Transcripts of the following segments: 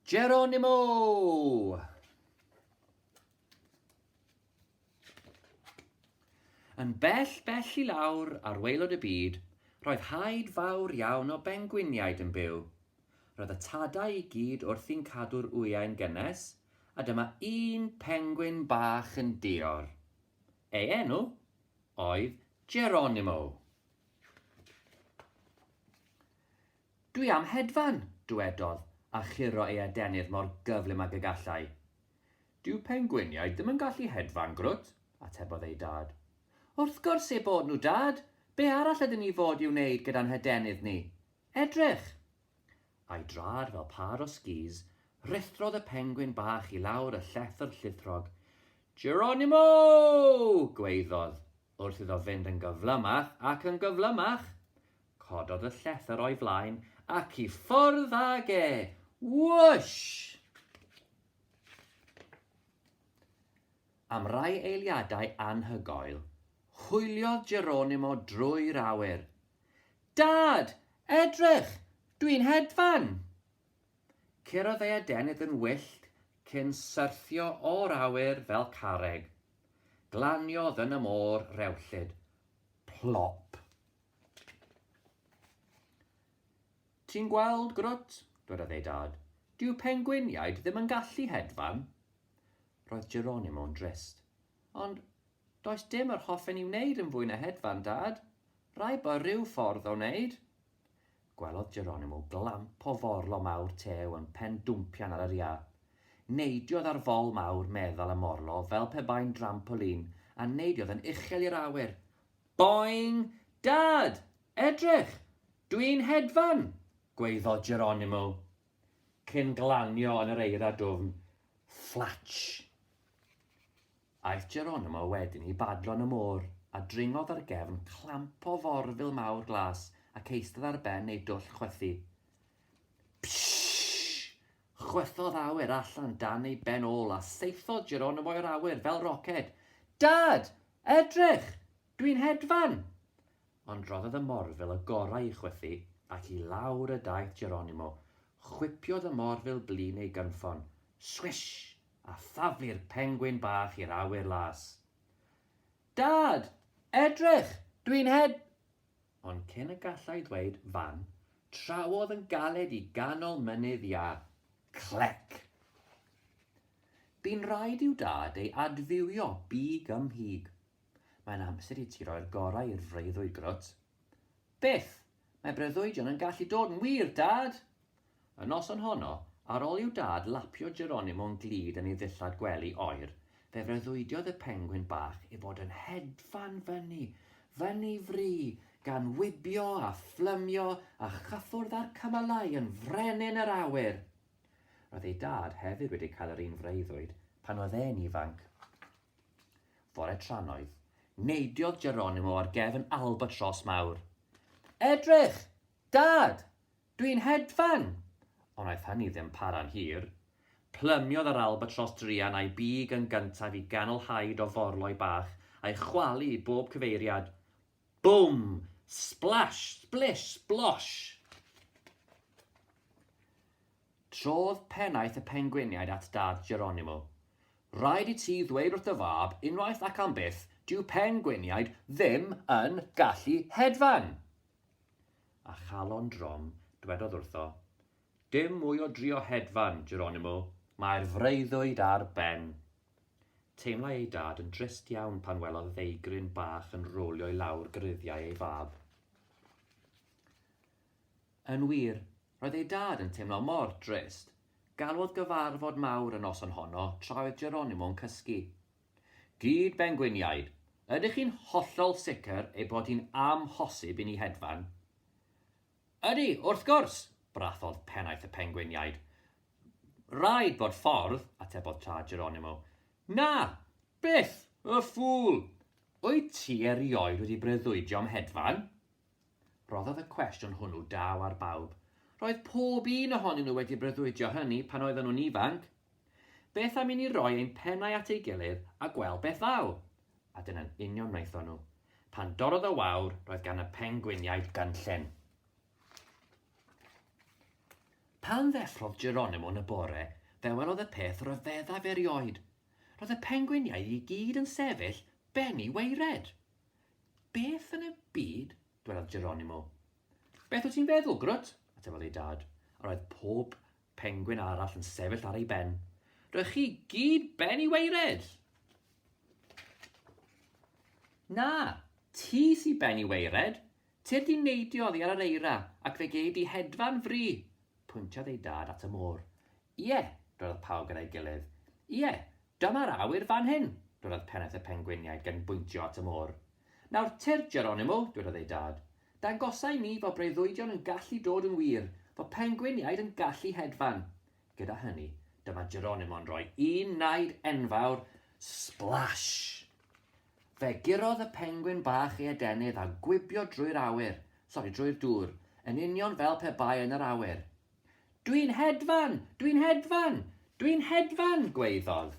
Geronimo! Yn bell, bell i lawr ar waelod y byd, roedd haid fawr iawn o bengwiniaid yn byw. Roedd y tadau i gyd wrthi'n cadw'r wyau'n gynnes, a dyma un pengwin bach yn dior. Ei enw oedd Geronimo. Dwi am hedfan! dwedodd, a churo ei adenydd mor gyflym ag y gallai. Dyw pengwiniaid ddim yn gallu hedfan, Grwt, atebodd ei dad. Wrth gwrs eu bod nhw, Dad! Be' arall ydyn ni fod i'w wneud gyda'n hadenydd ni? Edrych! A'i draed fel pâr o sgîs, rhuthrodd y pengwin bach i lawr y llethr llithwrog. Geronimo! gwaeddodd, wrth iddo fynd yn gyflymach ac yn gyflymach. Cododd y llethr o'i flaen ac i ffwrdd ag e! Wwsh! Am rai eiliadau anhygoel, hwyliodd Geronimo drwy'r awyr. Dad! Edrych! Dwi'n hedfan! Curodd ei adenydd yn wyllt cyn syrthio o'r awyr fel carreg. Glaniodd yn y môr rewllyd. Plop! Ti'n gweld, Grwt? dwedodd ei dad. Dyw pengwiniaid ddim yn gallu hedfan. Roedd Geronimo'n drist. Ond, does dim yr hoffen i wneud yn fwy na hedfan, Dad. Rhaid bod rhyw ffordd o wneud. Gwelodd Geronimo glamp o forlo mawr tew yn pen dwmpian ar yr iâ. Neidiodd ar fol mawr meddal y morlo fel pe bai'n drampolin, a neidiodd yn uchel i'r awyr. Boing! Dad! Edrych! Dwi'n hedfan! gwaeddodd Geronimo, cyn glanio yn yr eira dwfn. Fflatsh! Aeth Geronimo wedyn i badlo yn y môr, a dringodd ar gefn clamp o forfil mawr glas ac eistedd ar ben ei dwll chwythu. Pshhh! Chwythodd awyr allan dan ei ben ôl a saethodd Geronimo i'r awyr fel roced. Dad! Edrych! Dw i'n hedfan! Ond rhoddodd y morfil y gorau i chwythu ac i lawr y daeth Geronimo. Chwipiodd y morfil blin ei gynffon. Swish! a thaflu'r pengwin bach i'r awyr las. Dad! Edrych! Dw i'n hed-! Ond cyn y gallai ddweud fan, trawodd yn galed i ganol mynydd iâ. Clec! Bu'n rhaid i'w dad ei adfywio big ym mhig. Mae'n amser i ti roi'r gorau i'r freuddwyd, Grwt. Beth! Mae breuddwydion yn gallu dod yn wir, Dad! Y noson honno, ar ol i'w dad lapio Geronimo'n glud yn ei ddillad gwely oer, fe freuddwydiodd y pengwin bach ei fod yn hedfan fyny, fyny fry, gan wibio a phlymio a chyffwrdd â'r cymylau yn frenin yr awyr! Roedd ei dad hefyd wedi cael yr un freuddwyd pan oedd e'n ifanc. Fore trannoeth, neidiodd Geronimo ar gefn albatros mawr. Edrych! Dad! Dwi'n hedfan! Ond wnaeth hynny ddim para'n hir. Plymiodd yr albatros druan a'i big yn gyntaf i ganol haid o forloi bach, a'i chwalu i bob cyfeiriad. Bwm! Splash! Splish! Splosh! Trodd pennaeth y pengwiniaid at dad Geronimo. Rhaid i ti ddweud wrth dy fab unwaith ac am byth, dyw pengwiniaid ddim yn gallu hedfan! a chalon drom, dwedodd wrtho, Dim mwy o drio hedfan, Geronimo! Mae'r freuddwyd ar ben! Teimlai ei dad yn drist iawn pan welodd ddeigryn bach yn rowlio i lawr gruddiau ei fab. Yn wir, roedd ei dad yn teimlo mor drist. Galwodd gyfarfod mawr y noson honno tra oedd Geronimo'n cysgu. Gyd ben gwiniaid, ydych chi'n hollol sicr ei bod hi'n amhosib i ni hedfan? Ydy, wrth gwrs! brathodd Pennaeth y Pengwiniaid. Rhaid bod ffordd, atebodd Tad Geronimo. Na! Byth! Y ffŵl! Wyt ti erioed wedi breuddwydio am hedfan? Rhoddodd y cwestiwn hwnnw daw ar bawb. Roedd pob un ohonyn nhw wedi breuddwydio hynny pan oedden nhw'n ifanc. Beth am i ni roi ein pennau at ei gilydd a gweld beth ddaw? A dyna'n union wnaethon nhw. Pan dorrodd y wawr, roedd gan y pengwiniaid gynllun. Pan ddeffrodd Geronimo yn y bore, fe welodd y peth ryfeddaf erioed. Roedd y pengwiniaid i gyd yn sefyll ben i waered. Beth yn y byd? dwelodd Geronimo. Beth wyt ti'n feddwl, Grwt? atebodd ei dad, a roedd pob pengwin arall yn sefyll ar ei ben. Roedd chi gyd ben i weired! Na, ti sy ben i weired! Ti'r di neidio oddi ar yr eira ac fe gei di hedfan fri! Pwyntiodd ei dad at y môr. Ie, dwelodd pawb gyda'i gilydd. Ie, Dyma'r awyr fan hyn! dwedodd Pennaeth y Pengwiniaid gan bwyntio at y môr. Nawr tyrd, Geronimo, dwedodd ei dad. Dangosa i mi fo breuddwydion yn gallu dod yn wir, fo pengwiniaid yn gallu hedfan. Gyda hynny, dyma Geronimo'n rhoi un naid enfawr, splash! Fe gurodd y pengwin bach ei adenydd a gwibio drwy'r awyr, sori, drwy'r dŵr, yn union fel pe bai yn yr awyr. Dwi'n hedfan! Dwi'n hedfan! Dwi'n hedfan! gwaeddodd.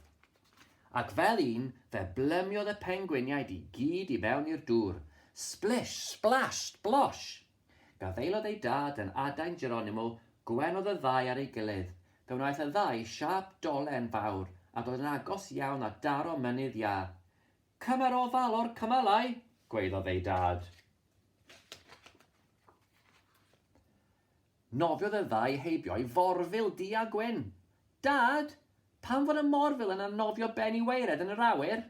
Ac fel un, fe blymiodd y pengwiniaid i gyd i fewn i'r dŵr. Splish! Splash! Splosh! Gafaelodd eu dad yn adain Geronimo, gwenodd y ddau ar ei gilydd. Fe wnaeth y ddau siâp dolen fawr a dod yn agos iawn at daro mynydd iâ. Cymer ofal o'r cymalau! gwaeddodd eu dad. Nofiodd y ddau heibio i Forfil du a gwyn. Dad! Pam fod y morfil yna'n nofio ben i waered yn yr awyr?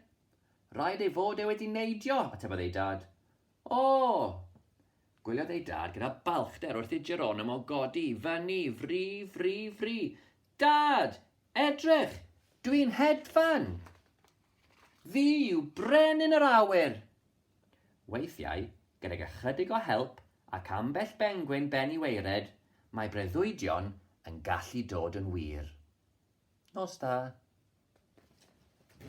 Rhaid ei fod e wedi neidio, atebodd ei dad. O! Gwyliodd ei dad gyda balchder wrth i Geronimo godi i fyny, fri, fri, fri. Dad! Edrych! Dwi'n hedfan! Fi yw brenin yr awyr! Weithiau, gydag ychydig o help ac ambell bengwin ben i waered, mae breuddwydion yn gallu dod yn wir. Nos da.